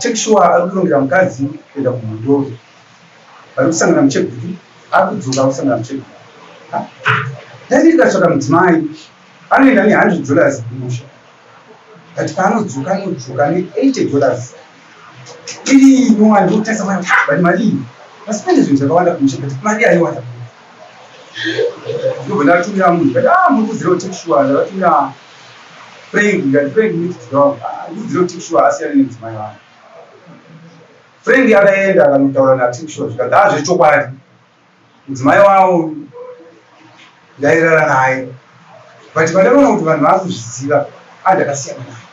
Take sure ari kurongera mukadzi kuenda kumudhori. Vari kusangana mucheguru ari kudzoka kusangana mucheguru. Dai ndikatsvaka mudzimai anoenda ne100 dollars kumusha but paanodzoka anodzoka ne80 dollars iri nyuwa ndikutarisa mari but mari iyi vasipende zvinhu zvakawanda kumusha but mari aiwanda ndobva ndatumira munhu but ah muri kuziva take sure ndavatumira Frank ngati Frank next door ndiziro tikshua asiyane nemudzimai wangu Frank akaenda akanotaura natikshua zvikanzi haa zvechokwadi mudzimai wavo ndairara naye but pandakaona kuti vanhu vakuzviziva a ndakasiyana naye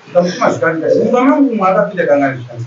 ndikamutuma zvikanzi mumba mangu umwe akapinda kangani zvikanzi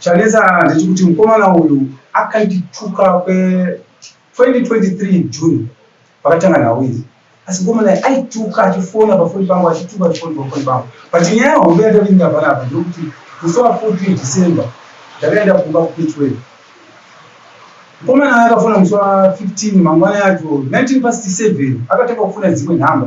Chanetsa ndechekuti mukomana uyu akandituka kwe 2023 June pakatanga nhau idzi asi mukomana uyu aituka achifona pafoni pangu achituka achifoni pafoni pangu but nyaya hombe yatavinga panapa ndekuti musi wa 14 December ndakaenda kumba kuPitwell mukomana aya akafona musi wa 15 mangwana yacho 19 past 7 akatanga kufona dzimwe nhamba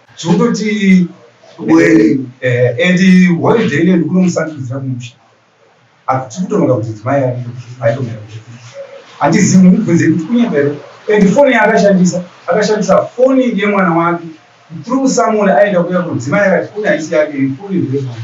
zvongoti and holiday ine ndikunomusandudzira kumusha apa tiri kutononga kuti dzimai aitomira handizivi mumubvunze kuti kunyembero and foni yaakashandisa akashandisa foni yemwana wake through someone aenda kuya kudzimai akati foni haisi yake foni ndeyemwana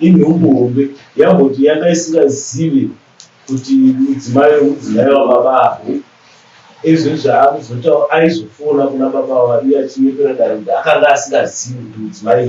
inhumbu hombe yamboti yanga isingazive kuti mudzimai wemudzimai wababa avo ezvo zvaakuzotaura aizofona kuna baba avo iye achinyepera dare kuti akanga asingazivi kuti mudzimai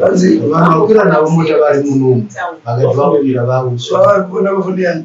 vanzi vanokwira navo mota vari munomu vakati vakwira vausvavarikuonavafoniyani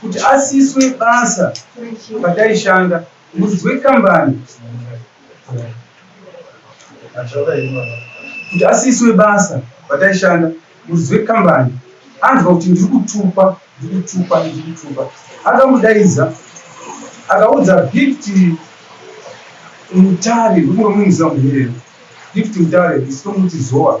kuti asiswe basa pataishanda muridzi wekambani kuti asiswe basa pataishanda muridzi wekambani anzwa kuti ndiri kutupa ndiri kutupa ndiri kutupa akamudaidza akaudza gifti mutare ndikuromumiza muherero gifti mutare isitomuti zowa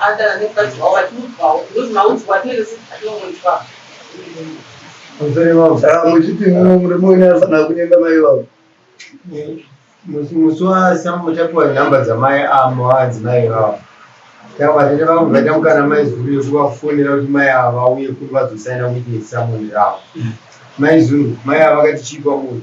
Adala nekukadzi wavo vatiudzwawo because maudzwa atinenge sisi atinongoitwa muchiti murume wenyu afanira kunyenga mai vavo musi wasambo tapiwa nhamba dzamai amo adzimai vavo tavatete vavo vaita mukana mai zuru yekuvafonera kuti mai ava vauye kuri vazosaina witness samoni ravo mai zuru mai ava vakati chii kwamuri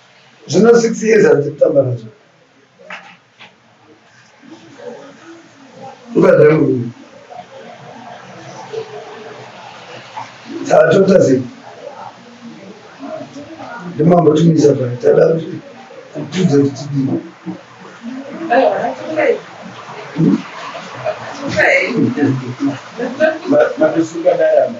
Zvino six years handisi kutamba nazvo. Ukadai murume. Tatota zii. Ndimambo tumisa pano. Tada kuti kutudze kuti tidii. Matusuka dayama.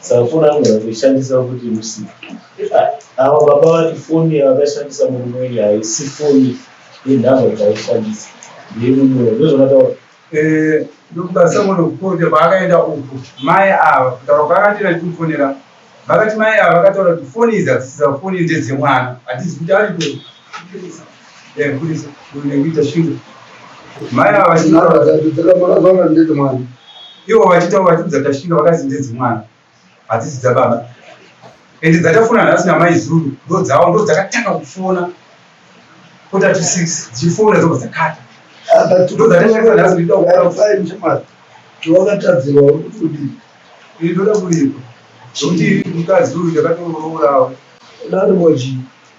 Safuna anogona kuishandisa kuti musika. Ava baba vati foni yavakashandisa murume wenyu haisi foni yenhamba dzaishandisa ndeyemumoyo ndozvakataura eh, ndokukasangona kukote kwaakaenda uku mai ava kutaura kwaakati natimufonera vakati mai ava vakataura kuti foni idzi hadzisiza foni ndedzemwana hatizi kuti ariko ivo vachitaura vachidza tashinga vakazi ndedzimwana hadzisi dzababa ende dzatafona nhasi namai zuru ndo dzavo ndo dzakatanga kufona kota to six dzichifona dzobva dzakata ndo dzatashakisa nhasi ndida kuaa tiwakatadzirwa uri kuti udii iri ndoda kuripa zvokuti mukadzi uyu ndakatoroora awo dani moji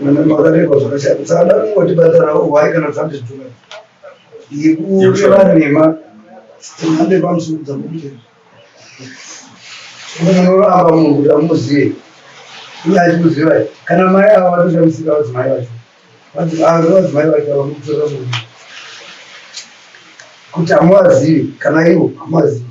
makareba zvakashata tsada kungotibhadharawo hwai kana dzambi zvitora yekureva nhema dzemhande pamusoro dzamutenda unoramba munhu kuti amuzive uye achikuziva kana mai ava vatoshamisika vadzimai vacho vadzimai vacho vamutora munhu kuti hamuvazivi kana ivo hamuvazivi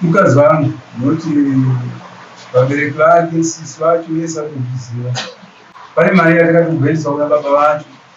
mukadzi vangu noti vabereki vake sisi vacho yese akuziva pane mari yatakatobhoeswa kuna baba vacho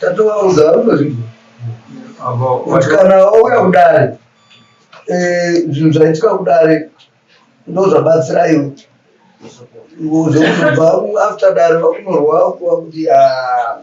tatovaudza vari kuzvinhu kuti kana wauya kudare eh, zvinhu zvaitika kudare ndozvabatsira iwe zvekuzobva after dare vakunorwa kuva kuti ah,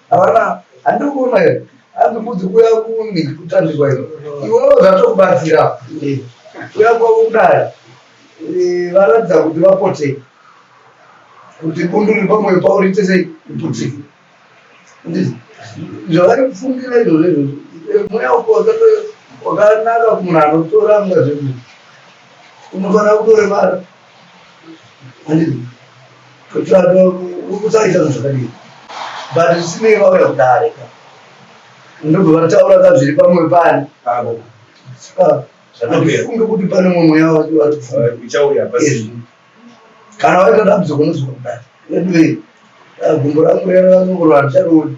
Havana handiri kuona here hanzi kudzi kuya kuni kutambirwa ino iwewo zvatokubatsira kuya kwavo kudai varatidza kuti vapote kuti bundu riri pamwoyo pavo riite sei kuti zvavari kufungira izvozvo izvozvo mweya uko wakanaka kumunhu anotora mwa zvedu unofanira kutoremara kutsvaita zvinhu zvakadii but zvisinei vauya kudare ka ndobva vataura ka zviri pamwe pani andifunge kuti pane mumwe mweya wake wati uchauya pasi kana waita dambudziko unozwa kudare anyway gumbo rangu reranokurwa handicharioni